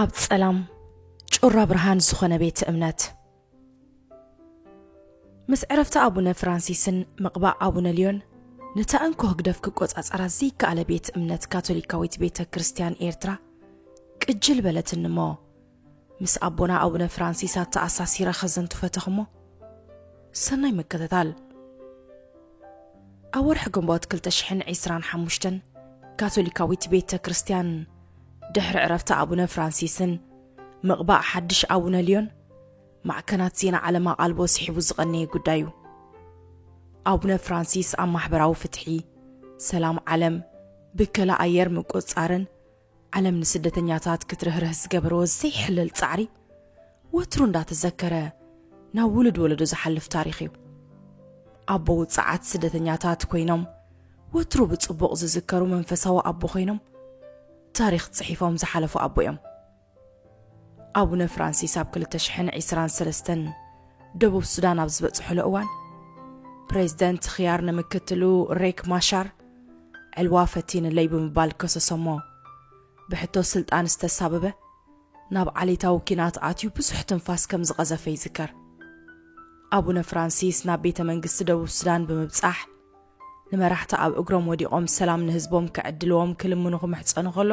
ኣብ ጸላም ጩራ ብርሃን ዝኾነ ቤት እምነት ምስ ዕረፍቲ ኣቡነ ፍራንሲስን ምቕባእ ኣቡነ ልዮን ነታ እንኮ ህግደፍ ክቆጻጸራ ዘይከኣለ ቤት እምነት ካቶሊካዊት ቤተ ክርስቲያን ኤርትራ ቅጅል በለትኒ እሞ ምስ ኣቦና ኣቡነ ፍራንሲስ ኣተኣሳሲረ ከዘንቱ ፈተኹሞ ሰናይ ምክትታል ኣብ ወርሒ ግንቦት 225 ካቶሊካዊት ቤተ ክርስቲያን ድሕሪ ዕረፍቲ ኣቡነ ፍራንሲስን ምቕባእ ሓድሽ ኣቡነ ልዮን ማዕከናት ዜና ዓለም ኣቓልቦ ስሒቡ ዝቐነየ ጉዳይ እዩ ኣቡነ ፍራንሲስ ኣብ ማሕበራዊ ፍትሒ ሰላም ዓለም ብከላ ኣየር ምቁፅፃርን ዓለም ንስደተኛታት ክትርህርህ ዝገበርዎ ዘይሕለል ጻዕሪ ወትሩ እንዳተዘከረ ናብ ውሉድ ወለዶ ዝሓልፍ ታሪኽ እዩ። ኣቦ ውጽዓት ስደተኛታት ኮይኖም ወትሩ ብጽቡቕ ዝዝከሩ መንፈሳዊ ኣቦ ኮይኖም ታሪኽ ጽሒፎም ዝሓለፉ ኣቦ እዮም። ኣቡነ ፍራንሲስ ኣብ 2023 ደቡብ ሱዳን ኣብ ዝበጽሑሉ እዋን ፕሬዝደንት ኽያር ንምክትሉ ሬክ ማሻር ዕልዋ ፈቲንለይ ብምባል ከሰሶሞ። ብሕቶ ስልጣን ዝተሳበበ ናብ ዓሌታዊ ኲናት ኣትዩ ብዙሕ ትንፋስ ከም ዝቐዘፈ ይዝከር። ኣቡነ ፍራንሲስ ናብ ቤተ መንግስቲ ደቡብ ሱዳን ብምብጻሕ ንመራሕቲ ኣብ እግሮም ወዲቖም ሰላም ንህዝቦም ክዕድልዎም ክልምኑ ክምሕጸኑ ከሎ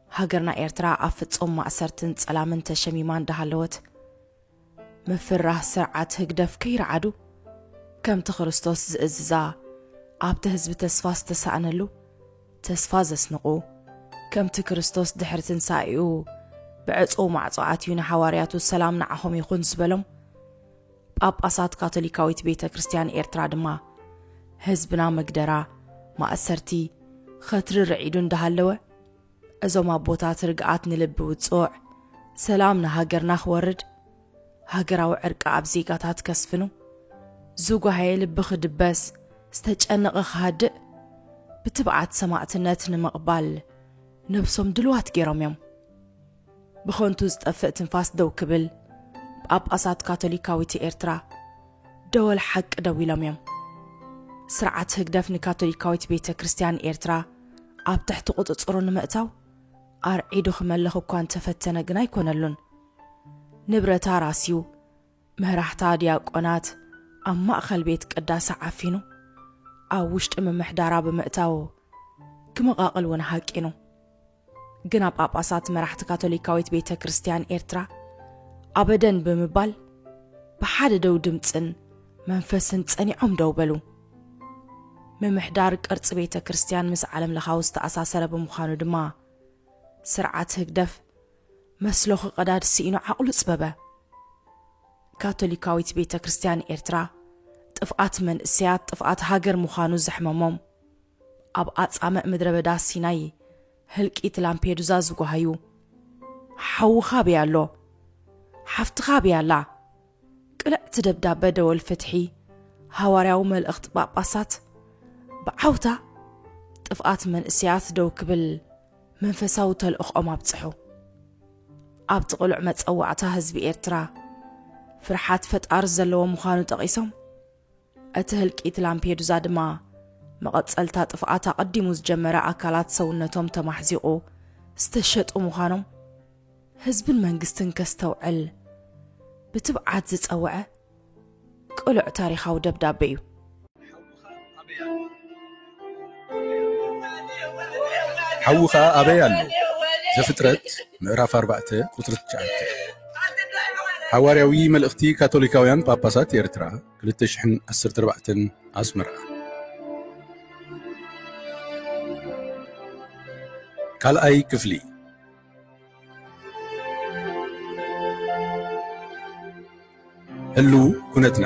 ሃገርና ኤርትራ ኣብ ፍጹም ማእሰርትን ጸላምን ተሸሚማ እንዳሃለወት፣ ምፍርራህ ስርዓት ህግደፍ ከይርዓዱ፣ ከምቲ ክርስቶስ ዝእዝዛ ኣብቲ ህዝቢ ተስፋ ዝተሳእነሉ፣ ተስፋ ዘስንቑ፣ ከምቲ ክርስቶስ ድሕሪ ትንሳኤኡ ብዕጹው ማዕጾ ኣትዩ ንሓዋርያቱ ሰላም ንዓኹም ይኹን ዝበሎም፣ ጳጳሳት ካቶሊካዊት ቤተ ክርስቲያን ኤርትራ ድማ ህዝብና መግደራ፣ ማእሰርቲ፣ ኸትሪ ርዒዱ እንዳሃለወ፣ እዞም ኣቦታት ርግኣት ንልቢ ውጹዕ፣ ሰላም ንሃገርና ክወርድ፣ ሃገራዊ ዕርቂ ኣብ ዜጋታት ከስፍኑ፣ ዝጓሃየ ልቢ ክድበስ፣ ዝተጨነቐ ክሃድእ፣ ብትብዓት ሰማእትነት ንምቕባል ነብሶም ድልዋት ጌሮም እዮም። ብኸንቱ ዝጠፍእ ትንፋስ ደው ክብል ጳጳሳት ካቶሊካዊት ኤርትራ ደወል ሓቂ ደዊሎም እዮም። ስርዓት ህግደፍ ንካቶሊካዊት ቤተ ክርስቲያን ኤርትራ ኣብ ትሕቲ ቁጽጽሩ ንምእታው ኣርዒዱ ክመልኽ እኳ እንተፈተነ ግን ኣይኮነሉን። ንብረታ ራስዩ፣ መራሕታ ዲያቆናት ኣብ ማእኸል ቤት ቅዳሰ ዓፊኑ ኣብ ውሽጢ ምምሕዳራ ብምእታው ክመቓቕል እውን ሃቂኑ። ግና ጳጳሳት መራሕቲ ካቶሊካዊት ቤተ ክርስቲያን ኤርትራ ኣበደን ብምባል ብሓደ ደው ድምፅን መንፈስን ጸኒዖም ደው በሉ። ምምሕዳር ቅርፂ ቤተ ክርስቲያን ምስ ዓለም ለኻዊ ዝተኣሳሰረ ብምዃኑ ድማ ስርዓት ህግደፍ መስሎ ክቐዳድ ስኢኑ ዓቕሉ ጽበበ። ካቶሊካዊት ቤተ ክርስቲያን ኤርትራ ጥፍኣት መንእሰያት ጥፍኣት ሃገር ምዃኑ ዘሕመሞም ኣብ ኣጻምእ ምድረ በዳ ሲናይ ህልቂት ላምፔዱዛ ዝጓሃዩ ሓውኻ ኣበይ ኣሎ ሓፍትኻ ኣበይ ኣላ ቅንዕቲ ደብዳበ ደወል ፍትሒ ሃዋርያዊ መልእኽቲ ጳጳሳት ብዓውታ ጥፍኣት መንእሰያት ደው ክብል መንፈሳዊ ተልእኽኦም ኣብጽሑ ኣብቲ ቅሉዕ መጸዋዕታ ህዝቢ ኤርትራ ፍርሓት ፈጣሪ ዘለዎ ምዃኑ ጠቒሶም እቲ ህልቂት ላምፔዱዛ ድማ መቐጸልታ ጥፍኣት ኣቐዲሙ ዝጀመረ ኣካላት ሰውነቶም ተማሕዚቑ ዝተሸጡ ምዃኖም ህዝብን መንግስትን ከስተውዕል ብትብዓት ዝጸውዐ ቅሉዕ ታሪኻዊ ደብዳቤ እዩ። ሓዊ ኸኣ ኣበይ ኣሎ? ዘፍጥረት ምዕራፍ ኣርባዕተ ቁጽሪ ትሽዓተ ሓዋርያዊ መልእኽቲ ካቶሊካውያን ጳጳሳት ኤርትራ ክልተ ሽሕን ዓሰርተ ኣርባዕተን ኣስመራ። ካልኣይ ክፍሊ። ህልው ኩነትና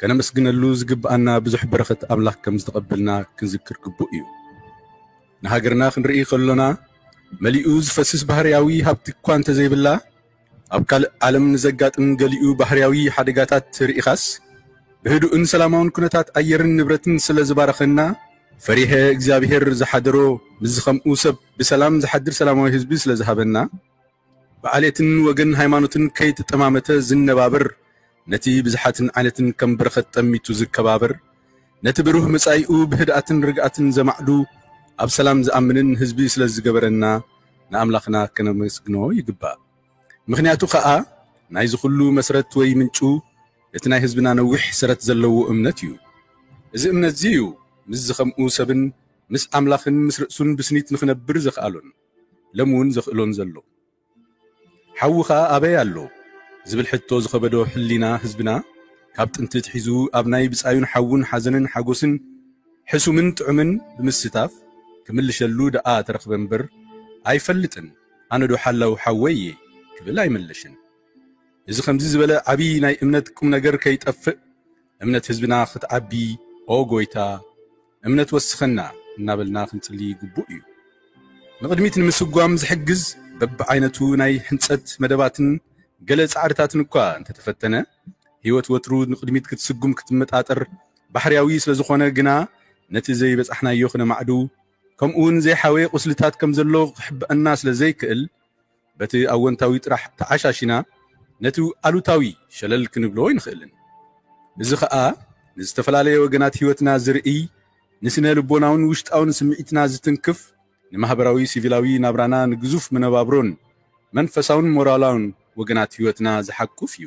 ከነመስግነሉ ዝግብኣና ብዙሕ በረኸት ኣምላኽ ከም ዝተቐበልና ክንዝክር ግቡእ እዩ። ንሃገርና ክንርኢ ከሎና መሊኡ ዝፈስስ ባህርያዊ ሃብቲ እኳ እንተዘይብላ ኣብ ካልእ ዓለም ንዘጋጥም ገሊኡ ባህርያዊ ሓደጋታት ርኢኻስ ብህዱእን ሰላማውን ኩነታት ኣየርን ንብረትን ስለ ዝባረኸና ፈሪሀ እግዚኣብሔር ዝሓደሮ ምስዚ ከምኡ ሰብ ብሰላም ዝሓድር ሰላማዊ ህዝቢ ስለ ዝሃበና ብዓሌትን ወገን ሃይማኖትን ከይተጠማመተ ዝነባብር፣ ነቲ ብዝሓትን ዓይነትን ከም በረኸት ጠሚቱ ዝከባበር፣ ነቲ ብሩህ መጻኢኡ ብህድኣትን ርግኣትን ዘማዕዱ፣ ኣብ ሰላም ዝኣምንን ህዝቢ ስለ ዝገበረና ንኣምላኽና ከነመስግኖ ይግባእ። ምኽንያቱ ከኣ ናይዚ ኩሉ መስረት ወይ ምንጩ እቲ ናይ ህዝብና ነዊሕ ሰረት ዘለዎ እምነት እዩ። እዚ እምነትዚ እዩ ምስ ዝኸምኡ ሰብን ምስ ኣምላኽን ምስ ርእሱን ብስኒት ንኽነብር ዘኽኣሎን። ሎሚ ውን ዘኽእሎን ዘሎ ሓዊ ከኣ ኣበይ ኣሎ ዝብል ሕቶ ዝኸበዶ ሕሊና ህዝብና ካብ ጥንቲ ኣትሒዙ ኣብ ናይ ብጻዩን ሓዉን ሓዘንን ሓጎስን ሕሱምን ጥዑምን ብምስታፍ ክምልሸሉ ደኣ ተረኽበ እምበር ኣይፈልጥን ኣነዶ ሓላው ሓወይ እየ ክብል ኣይመለሽን። እዚ ከምዚ ዝበለ ዓቢ ናይ እምነት ቁምነገር ከይጠፍእ እምነት ህዝብና ክትዓቢ ኦ ጎይታ እምነት ወስኸና እናበልና ክንጽሊ ግቡእ እዩ። ንቕድሚት ንምስጓም ዝሕግዝ በብዓይነቱ ናይ ሕንጸት መደባትን ገለ ጻዕርታትን እኳ እንተተፈተነ፣ ሕይወት ወትሩ ንቕድሚት ክትስጉም ክትመጣጠር ባሕርያዊ ስለዝኾነ ግና ነቲ ዘይበጻሕናዮ ክነማዕዱ ከምኡውን ዘይሓወየ ቁስልታት ከምዘሎ ክሕብኣና ስለዘይክእል በቲ ኣወንታዊ ጥራሕ ተዓሻሺና ነቲ ኣሉታዊ ሸለል ክንብሎ ኣይንኽእልን። እዚ ኸኣ ንዝተፈላለየ ወገናት ህይወትና ዝርእይ፣ ንስነ ልቦናውን ውሽጣውን ስምዒትና ዝትንክፍ፣ ንማህበራዊ ሲቪላዊ ናብራና ንግዙፍ መነባብሮን መንፈሳውን ሞራላውን ወገናት ህይወትና ዝሓቁፍ እዩ።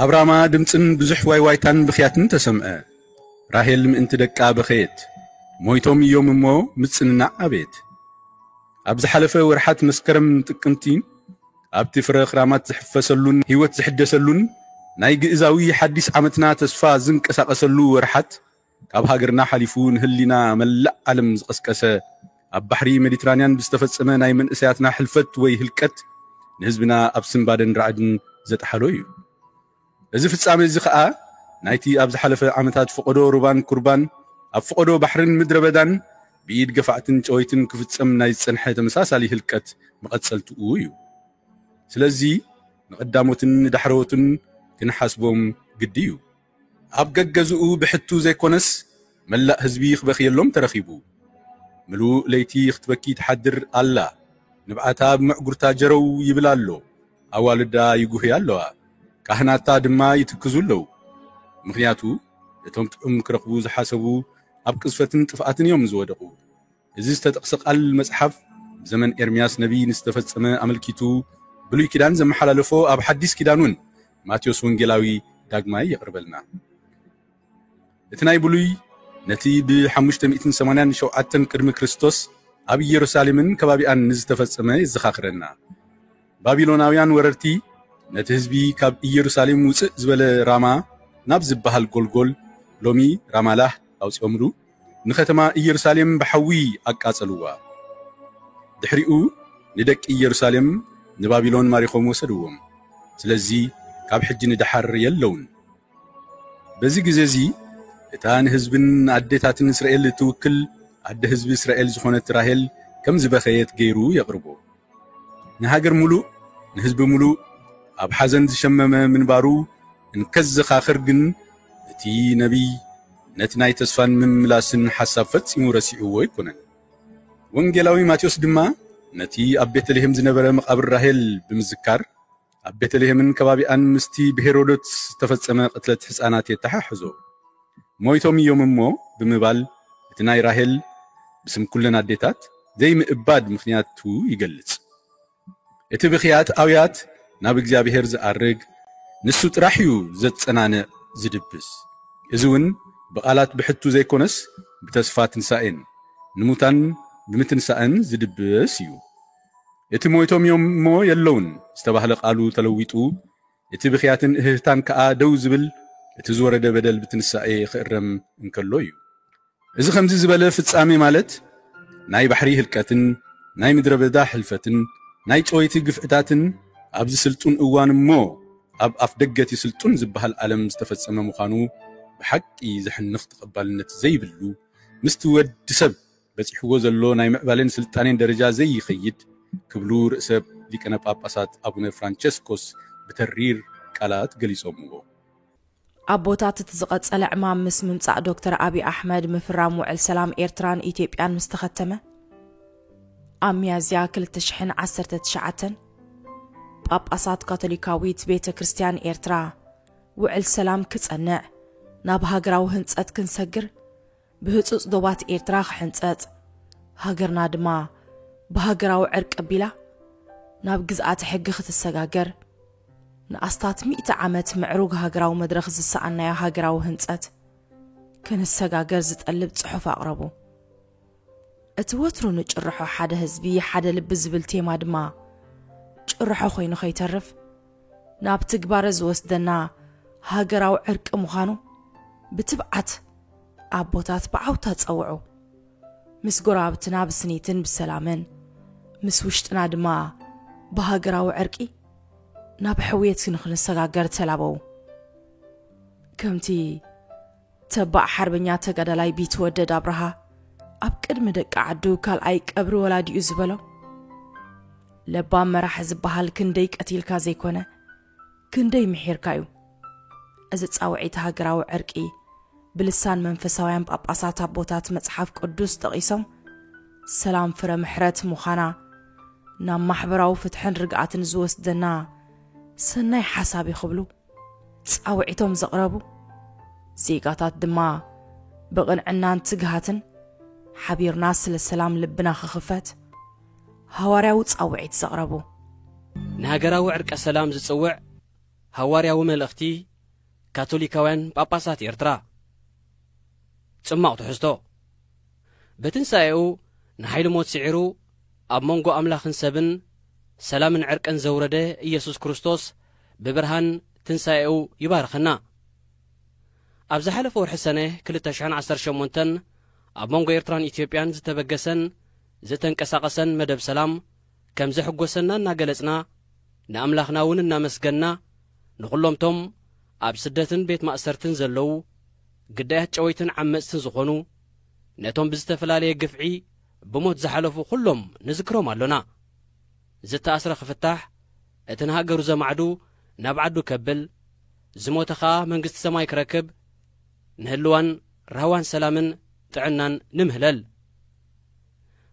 ኣብ ራማ ድምጽን ብዙሕ ዋይዋይታን ብኽያትን ተሰምዐ። ራሄል ምእንቲ ደቃ በኸየት። ሞይቶም እዮም እሞ ምጽንናዕ ኣበየት። ኣብ ዝሓለፈ ወርሓት መስከረምን ጥቅምቲን ኣብቲ ፍረ ክራማት ዝሕፈሰሉን ህይወት ዝሕደሰሉን ናይ ግእዛዊ ሓዲስ ዓመትና ተስፋ ዝንቀሳቐሰሉ ወርሓት ካብ ሃገርና ሓሊፉ ንህሊና መላእ ዓለም ዝቐስቀሰ ኣብ ባሕሪ ሜዲትራንያን ብዝተፈጸመ ናይ መንእሰያትና ሕልፈት ወይ ህልቀት ንህዝብና ኣብ ስንባደን ራዕድን ዘጥሓሎ እዩ። እዚ ፍጻሜ እዚ ከኣ ናይቲ ኣብ ዝሓለፈ ዓመታት ፈቐዶ ሩባን ኩርባን ኣብ ፈቐዶ ባሕርን ምድረ በዳን ብኢድ ገፋዕትን ጨወይትን ክፍጸም ናይ ዝጸንሐ ተመሳሳሊ ህልቀት መቐጸልትኡ እዩ። ስለዚ ንቐዳሞትን ንዳሕረዎትን ክንሓስቦም ግዲ እዩ። ኣብ ገገዝኡ ብሕቱ ዘይኮነስ መላእ ህዝቢ ክበኽየሎም ተረኺቡ። ምሉእ ለይቲ ክትበኪ ትሓድር ኣላ። ንብዓታ ኣብ መዕጉርታ ጀረው ይብል ኣሎ። ኣዋልዳ ይጉህያ ኣለዋ። ካህናታ ድማ ይትክዙ ኣለው። ምኽንያቱ እቶም ጥዑም ክረኽቡ ዝሓሰቡ ኣብ ቅዝፈትን ጥፍኣትን እዮም ዝወደቑ። እዚ ዝተጠቕሰ ቃል መጽሓፍ ብዘመን ኤርምያስ ነብዪ ንዝተፈጸመ ኣመልኪቱ ብሉይ ኪዳን ዘመሓላለፎ ኣብ ሓዲስ ኪዳን እውን ማቴዎስ ወንጌላዊ ዳግማይ የቕርበልና። እቲ ናይ ብሉይ ነቲ ብ587 ቅድሚ ክርስቶስ ኣብ ኢየሩሳሌምን ከባቢኣን ንዝተፈጸመ የዘኻኽረና። ባቢሎናውያን ወረርቲ ነቲ ህዝቢ ካብ ኢየሩሳሌም ውጽእ ዝበለ ራማ ናብ ዝበሃል ጎልጎል ሎሚ ራማላህ ኣውጺኦምሉ። ንኸተማ ኢየሩሳሌም ብሓዊ ኣቃጸልዋ። ድሕሪኡ ንደቂ ኢየሩሳሌም ንባቢሎን ማሪኾም ወሰድዎም። ስለዚ ካብ ሕጂ ንደሓር የለዉን። በዚ ግዜ እዚ እታ ንህዝብን ንኣዴታትን እስራኤል እትውክል ኣደ ህዝቢ እስራኤል ዝኾነት ራሄል ከም ዝበኸየት ገይሩ የቕርቦ። ንሃገር ምሉእ ንህዝቢ ምሉእ ኣብ ሓዘን ዝሸመመ ምንባሩ እንከዘኻኽር ግን እቲ ነቢይ ነቲ ናይ ተስፋን ምምላስን ሓሳብ ፈጺሙ ረሲዕዎ ኣይኮነን። ወንጌላዊ ማቴዎስ ድማ ነቲ ኣብ ቤተልሄም ዝነበረ መቓብር ራሄል ብምዝካር ኣብ ቤተልሔምን ከባቢኣን ምስቲ ብሄሮዶትስ ዝተፈጸመ ቅትለት ሕፃናት የተሓሕዞ። ሞይቶም እዮም እሞ ብምባል እቲ ናይ ራሄል ብስም ኩለን ኣዴታት ዘይምእባድ ምኽንያቱ ይገልጽ። እቲ ብኽያት ኣውያት ናብ እግዚኣብሔር ዝኣርግ ንሱ ጥራሕ እዩ ዘጸናንዕ ዝድብስ። እዚ እውን ብቓላት ብሕቱ ዘይኮነስ ብተስፋ ትንሳኤን ንሙታን ብምትንሳእን ዝድብስ እዩ። እቲ ሞይቶም እዮም እሞ የለዉን ዝተባህለ ቃሉ ተለዊጡ፣ እቲ ብኽያትን እህህታን ከኣ ደው ዝብል እቲ ዝወረደ በደል ብትንሳኤ ክእረም እንከሎ እዩ። እዚ ከምዚ ዝበለ ፍጻሜ ማለት ናይ ባሕሪ ህልቀትን ናይ ምድረ በዳ ሕልፈትን ናይ ጨወይቲ ግፍዕታትን ኣብዚ ስልጡን እዋን እሞ ኣብ ኣፍደገ'ቲ ስልጡን ዝበሃል ዓለም ዝተፈጸመ ምዃኑ ብሓቂ ዘሕንኽ ተቐባልነት ዘይብሉ ምስቲ ወድሰብ በጺሕዎ ዘሎ ናይ ምዕባሌን ስልጣኔን ደረጃ ዘይኸይድ ክብሉ ርእሰ ሊቀነ ጳጳሳት ኣቡነ ፍራንቸስኮስ ብተሪር ቃላት ገሊጾምዎ። ኣቦታት እቲ ዝቐጸለ ዕማም ምስ ምምጻእ ዶክተር ኣብይ ኣሕመድ ምፍራም ውዕል ሰላም ኤርትራን ኢትዮጵያን ምስ ተኸተመ ኣብ ሚያዝያ ክልተ ሽሕን ዓሰርተ ትሽዓተን ጳጳሳት ካቶሊካዊት ቤተ ክርስቲያን ኤርትራ ውዕል ሰላም ክጸንዕ ናብ ሃገራዊ ህንጸት ክንሰግር ብህጹጽ ዶባት ኤርትራ ክሕንጸጽ፣ ሃገርና ድማ ብሃገራዊ ዕርቂ ኣቢላ ናብ ግዝኣተ ሕጊ ክትሰጋገር፣ ንኣስታት ሚእቲ ዓመት ምዕሩግ ሃገራዊ መድረኽ ዝሰኣንናዮ ሃገራዊ ህንጸት ክንሰጋገር ዝጠልብ ጽሑፍ ኣቕረቡ። እቲ ወትሩ ንጭርሖ ሓደ ህዝቢ ሓደ ልቢ ዝብል ቴማ ድማ ጭርሖ ኮይኑ ከይተርፍ፣ ናብ ትግባረ ዝወስደና ሃገራዊ ዕርቂ ምዃኑ ብትብዓት ኣቦታት ብዓውታ ጸውዑ። ምስ ጎረባብትና ብስኒትን ብሰላምን፣ ምስ ውሽጥና ድማ ብሃገራዊ ዕርቂ ናብ ሕውየት ንኽንሰጋገር ተላበዉ። ከምቲ ተባዕ ሓርበኛ ተጋዳላይ ቢትወደድ ኣብርሃ ኣብ ቅድሚ ደቂ ዓዱ ካልኣይ ቀብሪ ወላዲኡ ዝበሎ ለባም መራሒ ዝበሃል ክንደይ ቀቲልካ ዘይኮነ ክንደይ ምሒርካ እዩ እዚ ጻውዒት ሃገራዊ ዕርቂ ብልሳን መንፈሳውያን ጳጳሳት ኣቦታት መጽሓፍ ቅዱስ ጠቒሶም ሰላም ፍረ ምሕረት ምዃና ናብ ማሕበራዊ ፍትሕን ርግኣትን ዝወስደና ሰናይ ሓሳብ እዩ ክብሉ ጻውዒቶም ዘቕረቡ ዜጋታት ድማ ብቕንዕናን ትግሃትን ሓቢርና ስለ ሰላም ልብና ክኽፈት ሃዋርያዊ ጻውዒት ዘቕረቡ ንሃገራዊ ዕርቀ ሰላም ዝጽውዕ ሃዋርያዊ መልእኽቲ ካቶሊካውያን ጳጳሳት ኤርትራ ጽማቕ ትሕዝቶ በትንሳኤኡ ንሓይሊ ሞት ስዒሩ ኣብ መንጎ ኣምላኽን ሰብን ሰላምን ዕርቅን ዘውረደ ኢየሱስ ክርስቶስ ብብርሃን ትንሳኤኡ ይባርኸና። ኣብ ዝሓለፈ ወርሒ ሰነ ክልተ ሽሕን ዓሰርተ ሸሞንተን ኣብ መንጎ ኤርትራን ኢትዮጵያን ዝተበገሰን ዝተንቀሳቐሰን መደብ ሰላም ከም ዘሕጎሰና እናገለጽና ንኣምላኽና እውን እናመስገንና ንኹሎምቶም ኣብ ስደትን ቤት ማእሰርትን ዘለዉ ግዳያት ጨወይትን ዓመጽትን ዝኾኑ ነቶም ብዝተፈላለየ ግፍዒ ብሞት ዝሓለፉ ኩሎም ንዝክሮም ኣሎና። ዝተኣስረ ክፍታሕ፣ እቲ ንሃገሩ ዘማዕዱ ናብ ዓዱ ከብል፣ ዝሞተ ከኣ መንግስቲ ሰማይ ክረክብ፣ ንህልዋን ራህዋን ሰላምን ጥዕናን ንምህለል።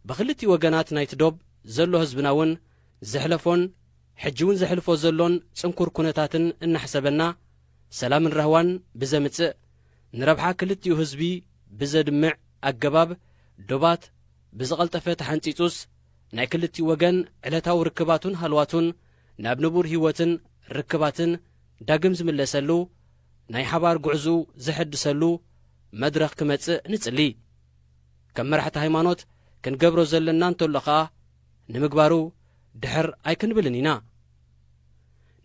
ብክልቲኡ ወገናት ናይቲ ዶብ ዘሎ ህዝብና ውን ዘሕለፎን ሕጂ ውን ዘሕልፎ ዘሎን ጽንኩር ኩነታትን እናሕሰበና፣ ሰላምን ራህዋን ብዘምጽእ፣ ንረብሓ ክልቲኡ ህዝቢ ብዘድምዕ ኣገባብ ዶባት ብዝቐልጠፈ ተሓንጺጹስ፣ ናይ ክልቲኡ ወገን ዕለታዊ ርክባቱን ሃልዋቱን ናብ ንቡር ህይወትን ርክባትን ዳግም ዝምለሰሉ፣ ናይ ሓባር ጉዕዝኡ ዘሐድሰሉ መድረኽ ክመጽእ ንጽሊ። ከም መራሕቲ ሃይማኖት ክንገብሮ ዘለና እንተሎ ከኣ ንምግባሩ ድሕር ኣይክንብልን ኢና።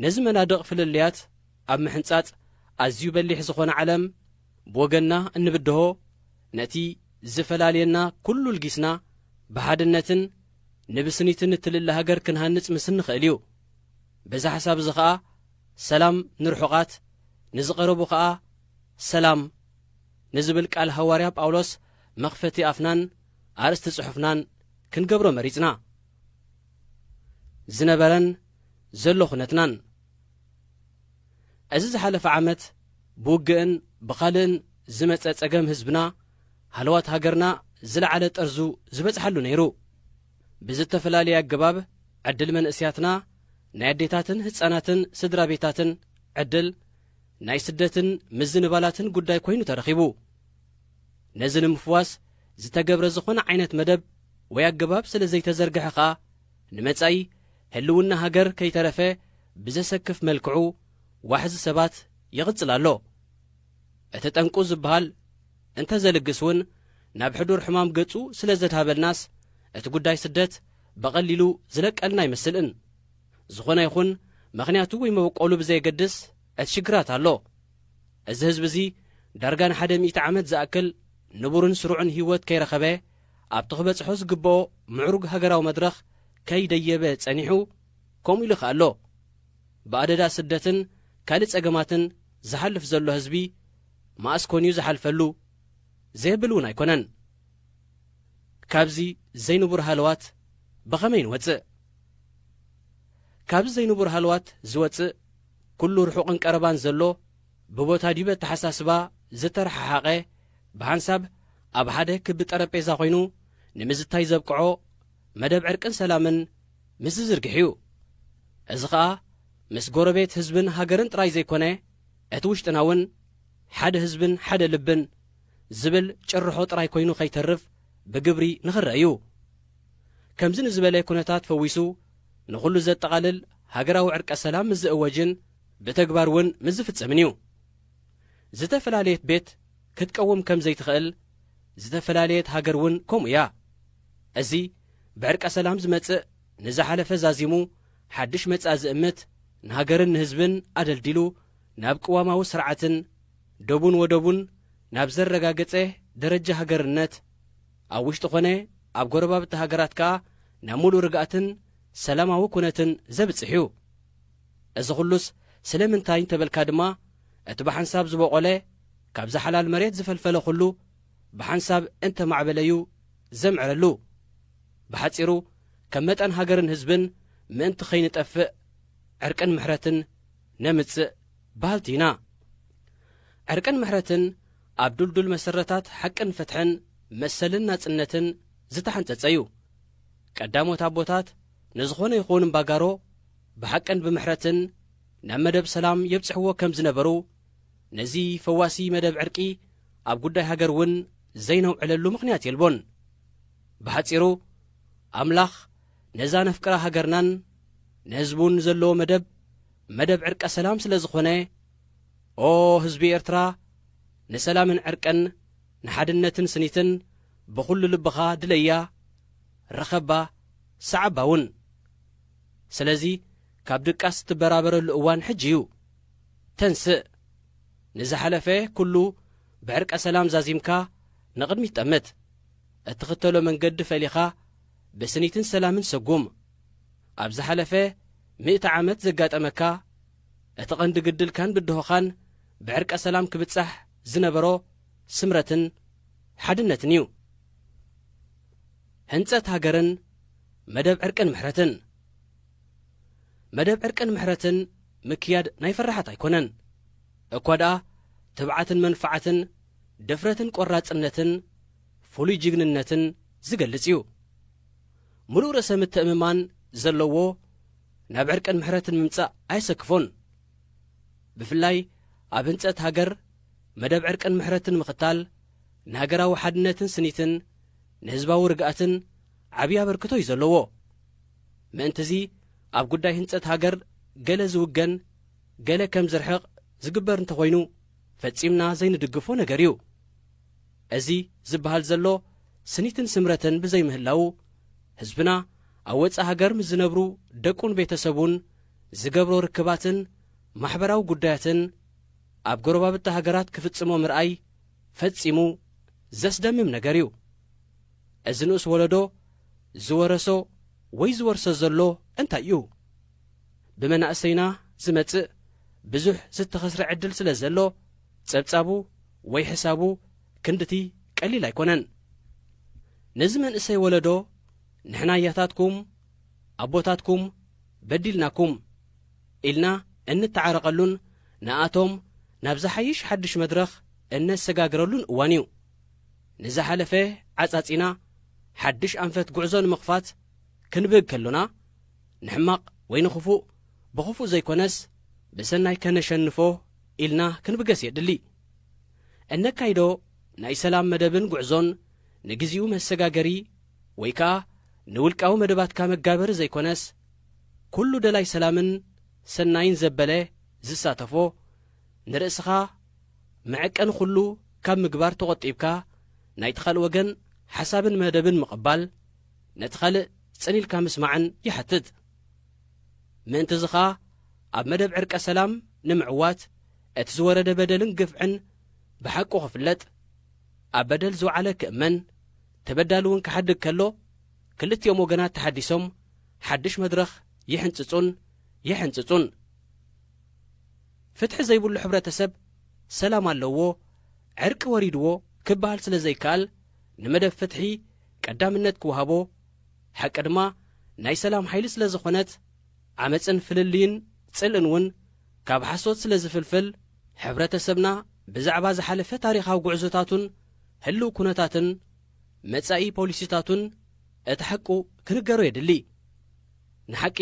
ነዚ መናድቕ ፍልልያት ኣብ ምሕንጻጽ ኣዝዩ በሊሕ ዝኾነ ዓለም፣ ብወገንና እንብድሆ ነቲ ዝፈላልየና ኩሉ ኣልጊስና ብሓድነትን ንብስኒትን እትልለ ሃገር ክንሃንጽ ምስ እንኸእል እዩ። በዚ ሓሳብ እዚ ከኣ ሰላም ንርሑቓት ንዝቐረቡ ከኣ ሰላም ንዝብል ቃል ሃዋርያ ጳውሎስ መኽፈቲ ኣፍናን ኣርእስቲ ጽሑፍናን ክንገብሮ መሪጽና። ዝነበረን ዘሎ ኩነትናን እዚ ዝሓለፈ ዓመት ብውግእን ብኻልእን ዝመጸ ጸገም ህዝብና ሃለዋት ሃገርና ዝለዓለ ጠርዙ ዝበጽሓሉ ነይሩ። ብዝተፈላለየ ኣገባብ ዕድል መንእስያትና ናይ ኣዴታትን ህጻናትን ስድራቤታትን ዕድል ናይ ስደትን ምዝንባላትን ጉዳይ ኮይኑ ተረኺቡ። ነዚ ንምፍዋስ ዝተገብረ ዝኾነ ዓይነት መደብ ወይ ኣገባብ ስለ ዘይተዘርግሐ ከኣ ንመጻኢ ህልውና ሃገር ከይተረፈ ብዘሰክፍ መልክዑ ዋሕዚ ሰባት ይቕጽል ኣሎ። እቲ ጠንቁ ዝበሃል እንተዘልግስ እውን ናብ ሕዱር ሕማም ገጹ ስለ ዘድሃበልናስ እቲ ጉዳይ ስደት በቐሊሉ ዝለቀልና ኣይመስል'ን። ዝኾነ ይኹን መኽንያቱ ወይ መበቆሉ ብዘየገድስ እቲ ሽግራት ኣሎ። እዚ ህዝቢ እዚ ዳርጋ ንሓደ ሚእቲ ዓመት ዝኣክል ንቡርን ስሩዕን ህይወት ከይረኸበ፣ ኣብቲ ክበጽሖ ዝግበኦ ምዕሩግ ሃገራዊ መድረኽ ከይደየበ ጸኒሑ ከምኡ ኢሉ ይከኣሎ ብኣደዳ ስደትን ካልእ ጸገማትን ዝሓልፍ ዘሎ ህዝቢ መኣስ ኮን እዩ ዝሓልፈሉ ዘየብል እውን ኣይኮነን። ካብዚ ዘይንቡር ሃለዋት ብኸመይ ንወጽእ? ካብዚ ዘይንቡር ሃለዋት ዝወጽእ ኩሉ ርሑቕን ቀረባን ዘሎ ብቦታ ዲብ ኣተሓሳስባ ዝተረሓሓቐ፣ ብሓንሳብ ኣብ ሓደ ክቢ ጠረጴዛ ኮይኑ ንምዝታይ ዘብቅዖ መደብ ዕርቅን ሰላምን ምስ ዝዝርግሕ እዩ። እዚ ከኣ ምስ ጎረቤት ህዝብን ሃገርን ጥራይ ዘይኮነ እቲ ውሽጥና እውን ሓደ ህዝብን ሓደ ልብን ዝብል ጭርሖ ጥራይ ኮይኑ ከይተርፍ ብግብሪ ንክረእ እዩ። ከምዚ ንዝበለ ኩነታት ፈዊሱ ንኹሉ ዘጠቓልል ሃገራዊ ዕርቀ ሰላም ምስ ዝእወጅን፣ ብተግባር እውን ምስ ዝፍጸምን እዩ። ዝተፈላለየት ቤት ክትቀውም ከም ዘይትኸእል፣ ዝተፈላለየት ሃገር እውን ከምኡ እያ። እዚ ብዕርቀ ሰላም ዝመጽእ ንዝሓለፈ ዛዚሙ ሓድሽ መጻኢ ዝእምት፣ ንሃገርን ንህዝብን ኣደልዲሉ ናብ ቅዋማዊ ስርዓትን ዶቡን ወደቡን ናብ ዘረጋገጸ ደረጃ ሃገርነት፣ ኣብ ውሽጢ ኮነ ኣብ ጎረባብቲ ሃገራት ከኣ ናብ ምሉእ ርግኣትን ሰላማዊ ኩነትን ዘብጽሕ እዩ። እዚ ኹሉስ ስለምንታይ እንተበልካ ድማ እቲ ብሓንሳብ ዝቦቖለ ካብዛ ሓላል መሬት ዝፈልፈለ ኹሉ ብሓንሳብ እንተማዕበለ እዩ ዘምዕረሉ። ብሓጺሩ ከም መጠን ሃገርን ህዝብን ምእንቲ ከይንጠፍእ ዕርቅን ምሕረትን ነምጽእ በሃልቲ ኢና። ዕርቅን ምሕረትን ኣብ ዱልዱል መሰረታት ሓቅን ፍትሕን መሰልን ናጽነትን ዝተሓንጸጸ እዩ። ቀዳሞት ኣቦታት ንዝኾነ ይኹን እምባጋሮ ብሓቅን ብምሕረትን ናብ መደብ ሰላም የብጽሕዎ ከም ዝነበሩ፣ ነዚ ፈዋሲ መደብ ዕርቂ ኣብ ጉዳይ ሃገር እውን ዘይነውዕለሉ ምኽንያት የልቦን። ብሓጺሩ ኣምላኽ ነዛ ነፍቅራ ሃገርናን ንህዝቡን ዘለዎ መደብ መደብ ዕርቀ ሰላም ስለ ዝኾነ ኦ ህዝቢ ኤርትራ ንሰላምን ዕርቅን ንሓድነትን ስኒትን ብኹሉ ልብኻ ድለያ፣ ርኸባ፣ ሰዓባ እውን። ስለዚ ካብ ድቃስ እትበራበረሉ እዋን ሕጂ እዩ። ተንስእ። ንዝሓለፈ ኩሉ ብዕርቀ ሰላም ዛዚምካ ንቕድሚት ጠምት። እትኽተሎ መንገዲ ፈሊኻ ብስኒትን ሰላምን ሰጉም። ኣብ ዝሓለፈ ሚእቲ ዓመት ዘጋጠመካ እቲ ቐንዲ ግድልካን ብድሆኻን ብዕርቀ ሰላም ክብጻሕ ዝነበሮ ስምረትን ሓድነትን እዩ። ህንጸት ሃገርን መደብ ዕርቅን ምሕረትን። መደብ ዕርቅን ምሕረትን ምክያድ ናይ ፈራሓት ኣይኮነን። እኳ ድኣ ትብዓትን መንፍዓትን፣ ድፍረትን ቆራጽነትን፣ ፍሉይ ጅግንነትን ዝገልጽ እዩ። ምሉእ ርእሰ ምትእምማን ዘለዎ ናብ ዕርቅን ምሕረትን ምምጻእ ኣየሰክፎን። ብፍላይ ኣብ ህንጸት ሃገር መደብ ዕርቅን ምሕረትን ምኽታል ንሃገራዊ ሓድነትን ስኒትን ንህዝባዊ ርግኣትን ዓብዪ ኣበርክቶ እዩ ዘለዎ። ምእንቲ'ዚ ኣብ ጉዳይ ህንጸት ሃገር ገለ ዝውገን ገለ ከም ዝርሕቕ ዝግበር እንተኾይኑ ፈጺምና ዘይንድግፎ ነገር እዩ። እዚ ዝበሃል ዘሎ ስኒትን ስምረትን ብዘይምህላዉ ህዝብና ኣብ ወጻኢ ሃገር ምስ ዝነብሩ ደቁን ቤተ ሰቡን ዝገብሮ ርክባትን ማሕበራዊ ጉዳያትን ኣብ ጎረባብቲ ሃገራት ክፍጽሞ ምርኣይ ፈጺሙ ዘስደምም ነገር እዩ። እዚ ንኡስ ወለዶ ዝወረሶ ወይ ዝወርሶ ዘሎ እንታይ እዩ? ብመናእሰይና ዝመጽእ ብዙሕ ዝተኸስረ ዕድል ስለ ዘሎ ጸብጻቡ ወይ ሕሳቡ ክንድቲ ቀሊል ኣይኮነን። ነዚ መንእሰይ ወለዶ ንሕና ኣያታትኩም ኣቦታትኩም በዲልናኩም፣ ኢልና እንተዓረቐሉን ንኣቶም ናብ ዝሓይሽ ሓድሽ መድረኽ እነሰጋግረሉን እዋን እዩ። ንዝሓለፈ ዓፃፂና ሓድሽ ኣንፈት ጉዕዞ ንምኽፋት ክንብህግ ከሎና ንሕማቕ ወይ ንኽፉእ ብኽፉእ ዘይኮነስ ብሰናይ ከነሸንፎ ኢልና ክንብገስ የድሊ። እነካይዶ ናይ ሰላም መደብን ጉዕዞን ንግዚኡ መሰጋገሪ ወይ ከዓ ንውልቃዊ መደባትካ መጋበሪ ዘይኮነስ፣ ኩሉ ደላይ ሰላምን ሰናይን ዘበለ ዝሳተፎ፣ ንርእስኻ መዐቀኒ ኩሉ ካብ ምግባር ተቖጢብካ ናይቲ ካልእ ወገን ሓሳብን መደብን ምቕባል፣ ነቲ ካልእ ጽን ኢልካ ምስማዕን ይሓትት። ምእንት'ዚ ከኣ ኣብ መደብ ዕርቀ ሰላም ንምዕዋት እቲ ዝወረደ በደልን ግፍዕን ብሓቁ ክፍለጥ፣ ኣብ በደል ዝውዓለ ክእመን፣ ተበዳሊ እውን ክሓድግ ከሎ፣ ክልቲኦም ወገናት ተሓዲሶም ሓድሽ መድረኽ ይሕንጽጹን የሕንጽጹን። ፍትሒ ዘይብሉ ሕብረተሰብ ሰላም ኣለዎ፣ ዕርቂ ወሪድዎ ክበሃል ስለ ዘይከኣል ንመደብ ፍትሒ ቀዳምነት ክወሃቦ፣ ሓቂ ድማ ናይ ሰላም ሓይሊ ስለ ዝኾነት ዓመጽን ፍልልይን ጽልእን እውን ካብ ሓሶት ስለ ዝፍልፍል ሕብረተሰብና ብዛዕባ ዝሓለፈ ታሪኻዊ ጉዕዞታቱን ህልው ኩነታትን መጻኢ ፖሊሲታቱን እቲ ሓቁ ክንገሮ የድሊ። ንሓቂ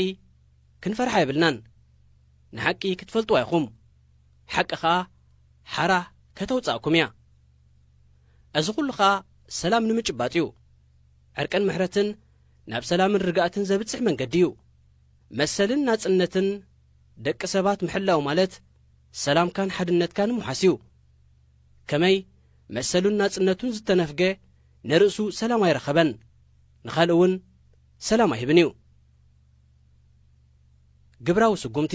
ክንፈርሓ የብልናን። ንሓቂ ክትፈልጥዋ ኢኹም። ሓቂ ከኣ ሓራ ከተውጽኣኩም እያ። እዚ ኩሉ ከኣ ሰላም ንምጭባጥ እዩ። ዕርቅን ምሕረትን ናብ ሰላምን ርግኣትን ዘብጽሕ መንገዲ እዩ። መሰልን ናጽነትን ደቂ ሰባት ምሕላው ማለት ሰላምካን ሓድነትካን ምውሓስ እዩ። ከመይ መሰሉን ናጽነቱን ዝተነፍገ ንርእሱ ሰላም ኣይረኸበን፣ ንኻልእ እውን ሰላም ኣይህብን እዩ። ግብራዊ ስጉምቲ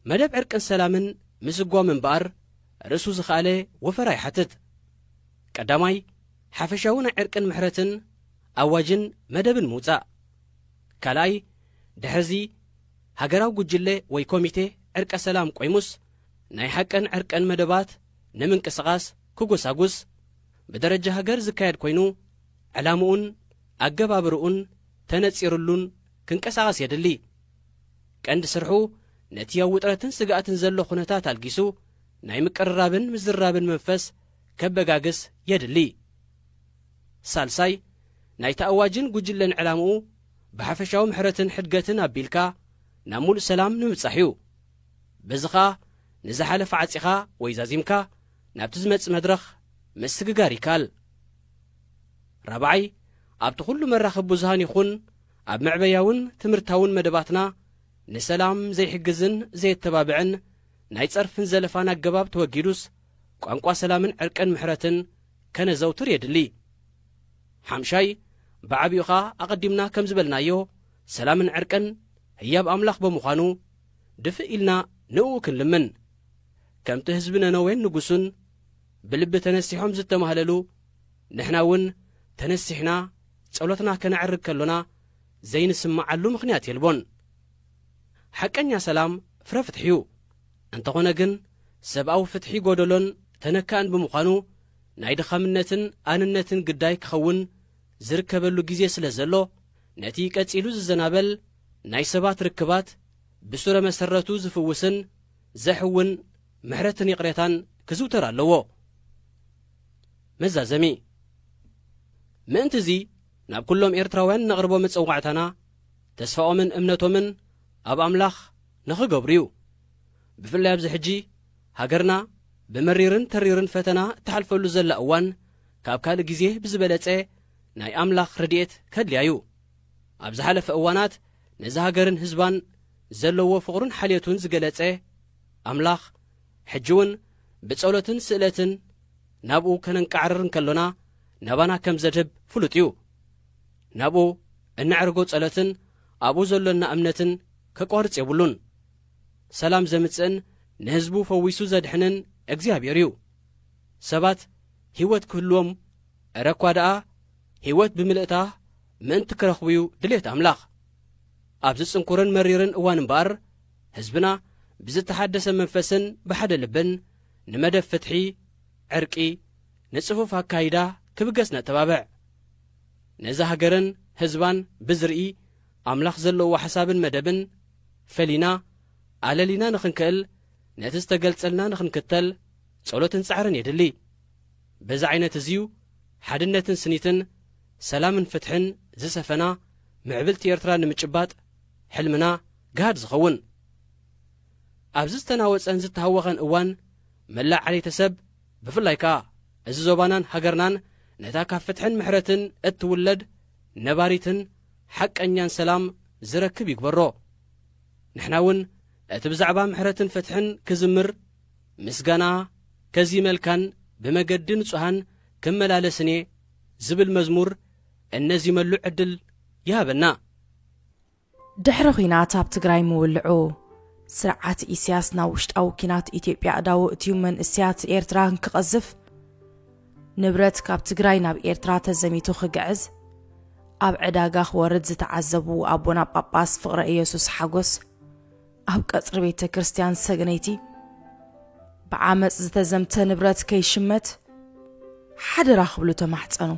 መደብ ዕርቅን ሰላምን ምስጓም እምበኣር ርእሱ ዝኸኣለ ወፈራ ይሓትት። ቀዳማይ ሓፈሻዊ ናይ ዕርቅን ምሕረትን ኣዋጅን መደብን ምውጻእ። ካልኣይ ድሕርዚ ሃገራዊ ጉጅለ ወይ ኮሚቴ ዕርቀ ሰላም ቆይሙስ ናይ ሓቅን ዕርቅን መደባት ንምንቅስቓስ ክጎሳጉስ ብደረጃ ሃገር ዝካየድ ኮይኑ ዕላምኡን ኣገባብርኡን ተነጺርሉን ክንቀሳቐስ የድሊ። ቀንዲ ስርሑ ነቲ ኣብ ውጥረትን ስግኣትን ዘሎ ኩነታት ኣልጊሱ ናይ ምቅርራብን ምዝራብን መንፈስ ከበጋግስ የድሊ። ሳልሳይ ናይቲ ኣዋጅን ጉጅለን ዕላምኡ ብሓፈሻዊ ምሕረትን ሕድገትን ኣቢልካ ናብ ሙሉእ ሰላም ንምብጻሕ እዩ። በዚ ኸኣ ንዝሓለፈ ዓጺኻ ወይ ዛዚምካ ናብቲ ዝመጽእ መድረኽ ምስግጋር ይከኣል። ራብዓይ፣ ኣብቲ ኩሉ መራኸቢ ብዙሃን ይኹን ኣብ መዕበያውን ትምህርታውን መደባትና ንሰላም ዘይሕግዝን ዘየተባብዕን ናይ ጸርፍን ዘለፋን ኣገባብ ተወጊዱስ ቋንቋ ሰላምን ዕርቅን ምሕረትን ከነዘውትር የድሊ። ሓምሻይ፣ ብዓቢኡ ኸኣ ኣቐዲምና ከም ዝበልናዮ ሰላምን ዕርቅን ህያብ ኣምላኽ ብምዃኑ ድፍእ ኢልና ንእኡ ክንልምን። ከምቲ ህዝቢ ነነዌን ንጉሱን ብልቢ ተነሲሖም ዝተማህለሉ፣ ንሕና እውን ተነሲሕና ጸሎትና ከነዕርግ ከሎና ዘይንስምዓሉ ምኽንያት የልቦን። ሓቀኛ ሰላም ፍረ ፍትሒ እዩ። እንተኾነ ግን ሰብኣዊ ፍትሒ ጎደሎን ተነካእን ብምዃኑ ናይ ድኻምነትን ኣንነትን ግዳይ ክኸውን ዝርከበሉ ግዜ ስለ ዘሎ፣ ነቲ ቀጺሉ ዝዘናበል ናይ ሰባት ርክባት ብሱረ መሰረቱ ዝፍውስን ዘሕውን ምሕረትን ይቕሬታን ክዝውተር ኣለዎ። መዛዘሚ ምእንት'ዚ ናብ ኩሎም ኤርትራውያን እነቕርቦ መጸዋዕታና ተስፋኦምን እምነቶምን ኣብ ኣምላኽ ንኽገብሩ'ዩ። ብፍላይ ኣብዚ ሕጂ ሃገርና ብመሪርን ተሪርን ፈተና እትሓልፈሉ ዘላ እዋን ካብ ካልእ ግዜ ብዝበለጸ ናይ ኣምላኽ ረድኤት ከድልያ እዩ። ኣብ ዝሓለፈ እዋናት ነዛ ሃገርን ህዝባን ዘለዎ ፍቕሩን ሓልዮቱን ዝገለጸ ኣምላኽ፣ ሕጂውን ብጸሎትን ስእለትን ናብኡ ከነንቃዕርር እንከሎና ናባና ከም ዘድህብ ፍሉጥ እዩ። ናብኡ እነዕርጎ ጸሎትን ኣብኡ ዘሎና እምነትን ከቋርጽ የብሉን። ሰላም ዘምጽእን ንህዝቡ ፈዊሱ ዘድሕንን እግዚኣብሔር እዩ። ሰባት ህይወት ክህልዎም እረ እኳ ደኣ ህይወት ብምልእታ ምእንቲ ክረኽቡ'ዩ ድሌት ኣምላኽ። ኣብዚ ጽንኩርን መሪርን እዋን እምበኣር፣ ህዝብና ብዝተሓደሰ መንፈስን ብሓደ ልብን ንመደብ ፍትሒ፣ ዕርቂ፣ ንጽፉፍ ኣካይዳ ክብገስ ነተባብዕ። ነዛ ሃገርን ህዝባን ብዝርኢ ኣምላኽ ዘለዎ ሓሳብን መደብን ፈሊና ኣለሊና ንኽንክእል ነቲ ዝተገልጸልና ንኽንክተል ጸሎትን ጻዕርን የድሊ። በዚ ዓይነት እዚ'ዩ ሓድነትን ስኒትን፣ ሰላምን ፍትሕን ዝሰፈና ምዕብልቲ ኤርትራ ንምጭባጥ ሕልምና ጋህድ ዝኸውን። ኣብዚ ዝተናወጸን ዝተሃወኸን እዋን፣ መላእ ዓሌተሰብ፣ ብፍላይ ከኣ እዚ ዞባናን ሃገርናን ነታ ካብ ፍትሕን ምሕረትን እትውለድ ነባሪትን ሓቀኛን ሰላም ዝረክብ ይግበሮ። ንሕና'ውን እቲ ብዛዕባ ምሕረትን ፍትሕን ክዝምር፣ ምስጋና ከዚመልካን ብመገዲ ንጹሃን ክመላለስን እየ ዝብል መዝሙር እነዚመሉ ዕድል ይሃበና። ድሕሪ ኲናት ኣብ ትግራይ ምውልዑ፣ ስርዓት ኢሲያስ ናብ ውሽጣዊ ኲናት ኢትዮጵያ ኣእዳዉ እትዩ መንእሰያት ኤርትራ ክቐዝፍ፣ ንብረት ካብ ትግራይ ናብ ኤርትራ ተዘሚቱ ክግዕዝ፣ ኣብ ዕዳጋ ክወርድ ዝተዓዘቡ ኣቦና ጳጳስ ፍቕረኢየሱስ ሓጎስ፣ ኣብ ቀጽሪ ቤተ ክርስቲያን ሰግነይቲ ብዓመፅ ዝተዘምተ ንብረት ከይሽመት ሓደራ ክብሉ ተማሕፀኑ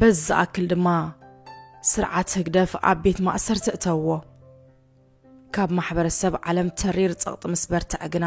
በዚ ዝኣክል ድማ ስርዓት ህግደፍ ኣብ ቤት ማእሰርቲ እተውዎ ካብ ማሕበረሰብ ዓለም ተሪር ጸቕጢ ምስ በርትዐ ግና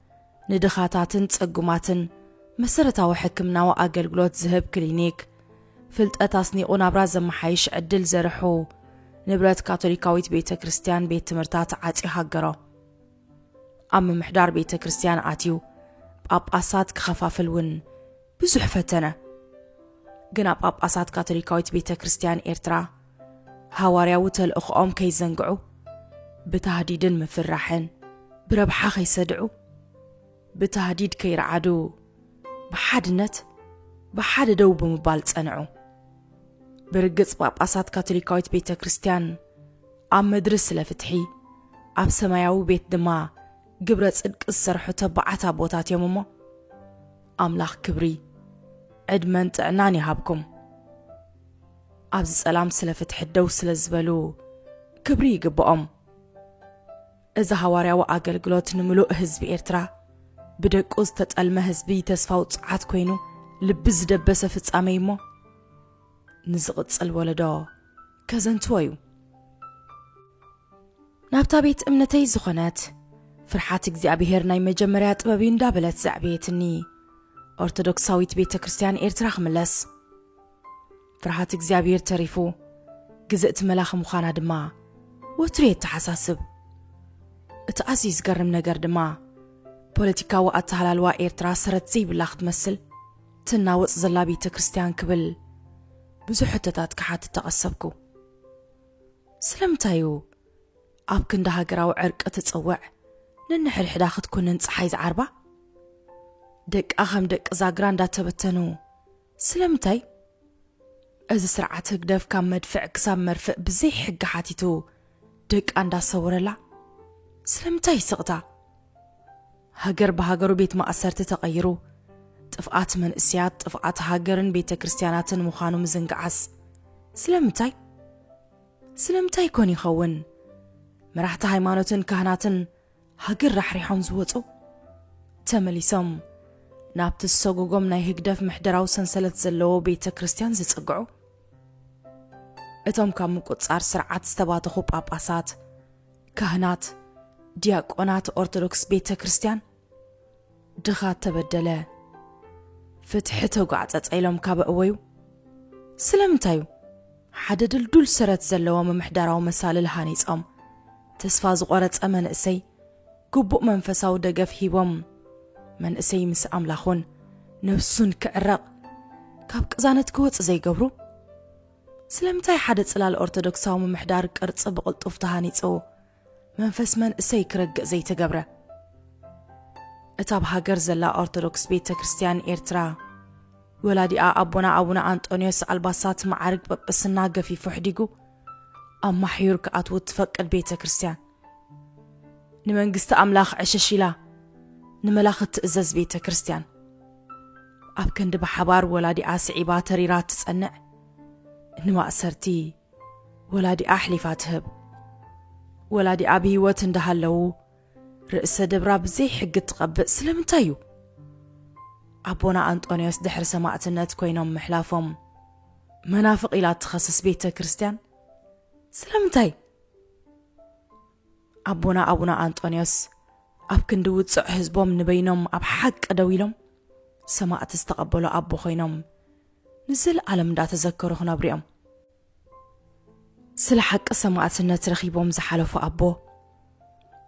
ንድኻታትን ጽጉማትን መሰረታዊ ሕክምናዊ ኣገልግሎት ዝህብ ክሊኒክ፣ ፍልጠት ኣስኒቑ ናብራ ዘመሓይሽ ዕድል ዘርሑ፣ ንብረት ካቶሊካዊት ቤተ ክርስቲያን ቤት ትምህርታት ዓጽዩ ሃገሮ። ኣብ ምምሕዳር ቤተ ክርስቲያን ኣትዩ ጳጳሳት ክኸፋፍል እውን ብዙሕ ፈተነ። ግና ጳጳሳት ካቶሊካዊት ቤተ ክርስቲያን ኤርትራ ሃዋርያዊ ተልእኾኦም ከይዘንግዑ፣ ብታህዲድን ምፍራሕን ብረብሓ ከይሰድዑ፣ ብታህዲድ ከይረዓዱ ብሓድነት ብሓደ ደው ብምባል ጸንዑ። ብርግጽ ጳጳሳት ካቶሊካዊት ቤተ ክርስቲያን ኣብ ምድሪ ስለ ፍትሒ ኣብ ሰማያዊ ቤት ድማ ግብረ ጽድቂ ዝሰርሑ ተባዓት ኣቦታት እዮም እሞ ኣምላኽ ክብሪ ዕድመን ጥዕናን ይሃብኩም። ኣብዚ ጸላም ስለ ፍትሒ ደው ስለ ዝበሉ ክብሪ ይግብኦም። እዚ ሃዋርያዊ ኣገልግሎት ንምሉእ ህዝቢ ኤርትራ ብደቁ ዝተጠልመ ህዝቢ ተስፋ ውጽዓት ኮይኑ ልቢ ዝደበሰ ፍጻመ እዩ እሞ ንዝቕጽል ወለዶ ከዘንትዎ እዩ። ናብታ ቤት እምነተይ ዝኾነት ፍርሓት እግዚኣብሄር ናይ መጀመርያ ጥበብ እዩ እንዳበለት ዘዕበየትኒ ኦርቶዶክሳዊት ቤተ ክርስትያን ኤርትራ ክምለስ ፍርሃት እግዚኣብሔር ተሪፉ ግዝእቲ መላኺ ምዃና ድማ ወትሩ የተሓሳስብ። እቲ ኣዝዩ ዝገርም ነገር ድማ ፖለቲካዊ ኣተሃላልዋ ኤርትራ ሰረት ዘይብላ ክትመስል ትናወጽ ዘላ ቤተ ክርስቲያን ክብል ብዙሕ ሕቶታት ክሓትት ተቐሰብኩ። ስለምንታይ እዩ ኣብ ክንዲ ሃገራዊ ዕርቂ ትጽውዕ ነንሕድሕዳ ክትኩንን ፀሓይ ዝዓርባ ደቃ ከም ደቂ ዛግራ እንዳተበተኑ ስለምንታይ እዚ ስርዓት ህግደፍ ካብ መድፍዕ ክሳብ መርፍእ ብዘይ ሕጊ ሓቲቱ ደቃ እንዳሰወረላ ስለምንታይ ስቕታ? ሃገር ብሃገሩ ቤት ማእሰርቲ ተቐይሩ ጥፍኣት መንእሰያት ጥፍኣት ሃገርን ቤተ ክርስትያናትን ምዃኑ ምዝንጋዓስ ስለምንታይ? ስለምንታይ ኮን ይኸውን መራሕቲ ሃይማኖትን ካህናትን ሃገር ራሕሪሖም ዝወጹ ተመሊሶም ናብቲ ዝሰጎጎም ናይ ህግደፍ ምሕደራዊ ሰንሰለት ዘለዎ ቤተ ክርስቲያን ዝጽግዑ እቶም ካብ ምቁጽጻር ስርዓት ዝተባተኹ ጳጳሳት ካህናት ዲያቆናት ኦርቶዶክስ ቤተ ክርስቲያን ድኻ ተበደለ፣ ፍትሒ ተጓዕጸጸ ኢሎም ካብ ኣእወዩ፣ ስለምንታይ እዩ ሓደ ድልዱል ሰረት ዘለዎ ምምሕዳራዊ መሳልል ሃኒጾም፣ ተስፋ ዝቖረጸ መንእሰይ ግቡእ መንፈሳዊ ደገፍ ሂቦም፣ መንእሰይ ምስ ኣምላኹን ነብሱን ክዕረቕ፣ ካብ ቅዛነት ክወጽእ ዘይገብሩ? ስለምንታይ ሓደ ጽላል ኦርቶዶክሳዊ ምምሕዳር ቅርጺ ብቕልጡፍ ተሃኒጹ፣ መንፈስ መንእሰይ ክረግእ ዘይተገብረ። እታ ኣብ ሃገር ዘላ ኦርቶዶክስ ቤተ ክርስቲያን ኤርትራ ወላዲኣ ኣቦና ኣቡነ ኣንጦንዮስ ኣልባሳት መዓርግ ጵጵስና ገፊፉ ሕዲጉ ኣብ ማሕዩር ክኣትዉ እትፈቅድ ቤተ ክርስቲያን ንመንግስቲ ኣምላኽ ዕሽሽ ኢላ ንመላኽ እትእዘዝ ቤተ ክርስቲያን ኣብ ክንዲ ብሓባር ወላዲኣ ስዒባ ተሪራ እትጸንዕ ንማእሰርቲ ወላዲኣ ኣሕሊፋ ትህብ። ወላዲኣ ብህይወት እንዳሃለዉ ርእሰ ደብራ ብዘይ ሕጊ እትቐብእ ስለምንታይ እዩ? ኣቦና ኣንጦንዮስ ድሕሪ ሰማእትነት ኮይኖም ምሕላፎም መናፍቕ ኢላ እትኸስስ ቤተ ክርስቲያን ስለምንታይ? ኣቦና ኣቡነ ኣንጦንዮስ ኣብ ክንዲ ውፅዕ ህዝቦም ንበይኖም ኣብ ሓቂ ደው ኢሎም ሰማእት ዝተቐበሉ ኣቦ ኮይኖም ንዘለኣለም እንዳተዘከሩ ክነብሩ እዮም። ስለ ሓቂ ሰማእትነት ረኺቦም ዝሓለፉ ኣቦ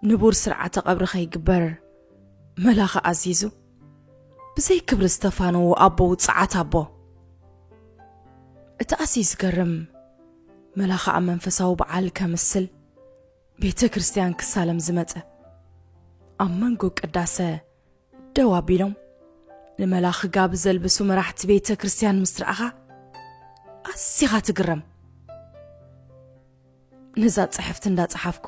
ንቡር ስርዓተ ቀብሪ ከይግበር መላኺ ኣዚዙ ብዘይ ክብሪ ዝተፋነዉ ኣቦ ውፅዓት ኣቦ እቲ ኣዝዩ ዝገርም መላኺ ኣብ መንፈሳዊ በዓል ከምስል ቤተ ክርስቲያን ክሳለም ዝመፀ ኣብ መንጎ ቅዳሰ ደው ኣቢሎም ንመላኺ ጋብ ዘልብሱ መራሕቲ ቤተ ክርስቲያን ምስ ረኣኻ ኣዚኻ ትግረም ነዛ ጽሕፍቲ እንዳጸሓፍኩ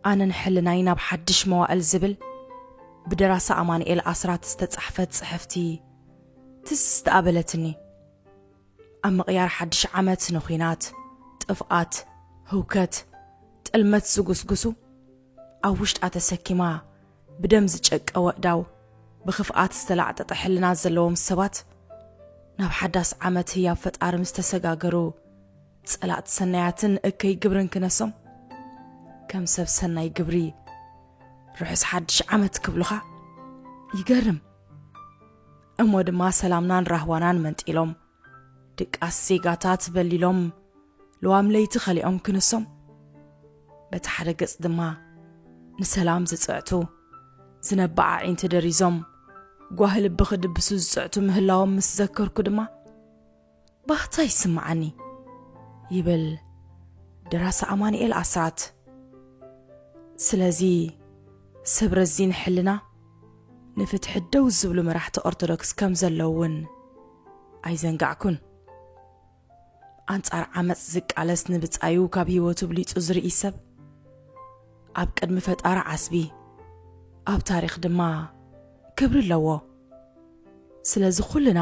ኣነ ንሕልናይ ናብ ሓድሽ መዋእል ዝብል ብደራሲ ኣማንኤል ኣስራት ዝተጻሕፈት ጽሕፍቲ ትስ ዝተኣበለትኒ ኣብ ምቕያር ሓድሽ ዓመት ንኹናት ጥፍኣት ህውከት ጥልመት ዝጉስጉሱ ኣብ ውሽጣ ተሰኪማ ብደም ዝጨቀ ወእዳው ብኽፍኣት ዝተላዕጠጠ ሕልና ዘለዎም ሰባት ናብ ሓዳስ ዓመት ህያብ ፈጣሪ ምስ ተሰጋገሩ ጸላእቲ ሰናያትን እከይ ግብርን ክነሶም ከም ሰብ ሰናይ ግብሪ ርሑስ ሓድሽ ዓመት ክብሉኻ ይገርም እሞ ድማ ሰላምናን ራህዋናን መንጢሎም ድቃስ ዜጋታት በሊሎም ልዋም ለይቲ ኸሊኦም ክንሶም በቲ ሓደ ገጽ ድማ ንሰላም ዝጽዕቱ ዝነብዓ ኣዒንቲ ደሪዞም ጓህ ልቢ ክድብሱ ዝጽዕቱ ምህላዎም ምስ ዘከርኩ ድማ ባህታ ይስምዓኒ ይብል ደራሲ ኣማንኤል ኣስራት ስለዚ ሰብ ረዚን ሕልና ንፍትሒ ደው ዝብሉ መራሕቲ ኦርቶዶክስ ከም ዘለዉ እውን ኣይዘንጋዕኩን። ኣንጻር ዓመጽ ዝቃለስ ንብጻዩ ካብ ህይወቱ ብሊጹ ዝርኢ ሰብ ኣብ ቅድሚ ፈጣሪ ዓስቢ ኣብ ታሪኽ ድማ ክብሪ ኣለዎ ስለዚ ኩልና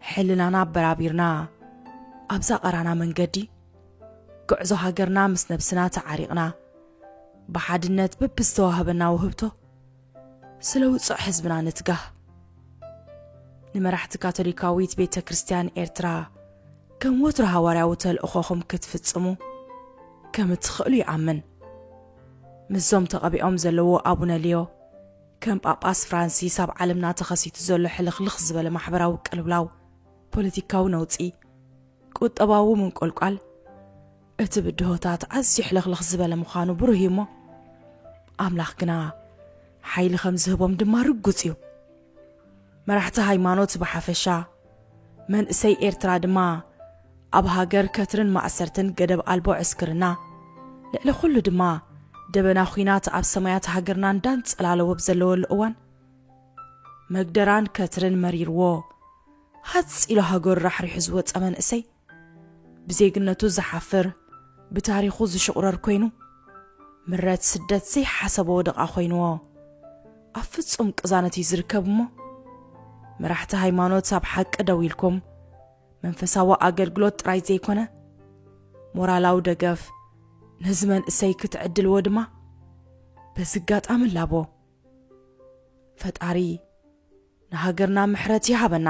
ሕልናና ኣበራቢርና ኣብዛ ቀራና መንገዲ ጉዕዞ ሃገርና ምስ ነብስና ተዓሪቕና ብሓድነት በብዝተዋህበና ውህብቶ ስለ ውጹዕ ህዝብና ንትጋህ። ንመራሕቲ ካቶሊካዊት ቤተ ክርስቲያን ኤርትራ ከም ወትሩ ሃዋርያዊ ተልእኾኹም ክትፍጽሙ ከም እትኽእሉ ይኣምን። ምስዞም ተቐቢኦም ዘለዎ ኣቡነ ሊዮ ከም ጳጳስ ፍራንሲስ ኣብ ዓለምና ተኸሲቱ ዘሎ ሕልኽልኽ ዝበለ ማሕበራዊ ቅልውላው፣ ፖለቲካዊ ነውጺ፣ ቁጠባዊ ምንቆልቋል፣ እቲ ብድሆታት ኣዝዩ ሕልኽልኽ ዝበለ ምዃኑ ብሩህ እዩ እሞ፣ ኣምላኽ ግና ሓይሊ ኸም ዝህቦም ድማ ርጉጽ እዩ። መራሕቲ ሃይማኖት ብሓፈሻ፣ መንእሰይ ኤርትራ ድማ ኣብ ሃገር ከትርን ማእሰርትን ገደብ ኣልቦ ዕስክርና፣ ልዕሊ ኹሉ ድማ ደበና ኹናት ኣብ ሰማያት ሃገርና እንዳንጸላለወ ብ ዘለወሉ እዋን፣ መግደራን ከትርን መሪርዎ ሃጽ ኢሉ ሃገሩ ራሕሪሑ ዝወጸ መንእሰይ፣ ብዜግነቱ ዝሓፍር ብታሪኹ ዝሽቑረር ኮይኑ ምረት ስደት ዘይሓሰቦ ወደቓ ኮይንዎ ኣብ ፍጹም ቅዛነት እዩ ዝርከብ እሞ መራሕቲ ሃይማኖት ኣብ ሓቂ ደው ኢልኩም መንፈሳዊ ኣገልግሎት ጥራይ ዘይኮነ ሞራላዊ ደገፍ ነዚ መንእሰይ ክትዕድልዎ ድማ በዚ ኣጋጣሚ ላቦ ፈጣሪ ንሃገርና ምሕረት ይሃበና